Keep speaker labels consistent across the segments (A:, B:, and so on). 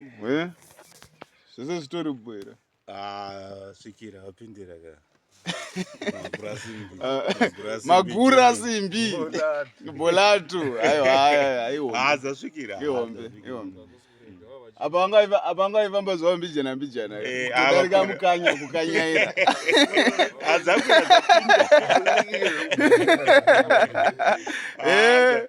A: Eh? Zvese zvitori bwera. Ah, svikira wapindira ka. Magura simbi. Ah, magura simbi. Bolato. Ayo ayo ayo. Ah, zasvikira. Ihombe, ihombe. Apa wanga apa wanga ifamba zwa mbijana mbijana. Eh, apa ka mukanya kukanyaira. Azakwira. Ah, eh.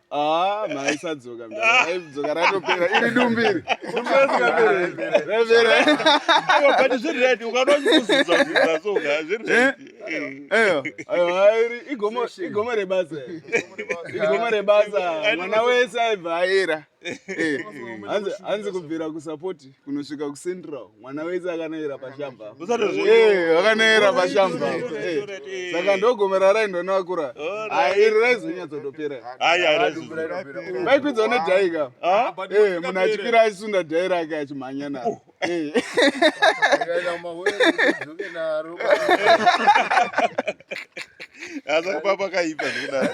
A: Ah, maisadzoka mdzoka ratopera iri dumbiri but zvired ukada uchikuzidzazidza so ka zvireairi igomo rebasa igomo rebasa mwana wese aibva aera hanzi kubvira kusapoti kunosvika kucentral mwana wese akanoera pashamba eh, akanoera pashamba eh, saka ndogomera raindo navakura iri raizonyatsotopera vaikwidzwa nedhai ka ah? eh, munhu achipira achisunda dhai rake achimhanya naro oh. aza kupapa kaipa zvekudaro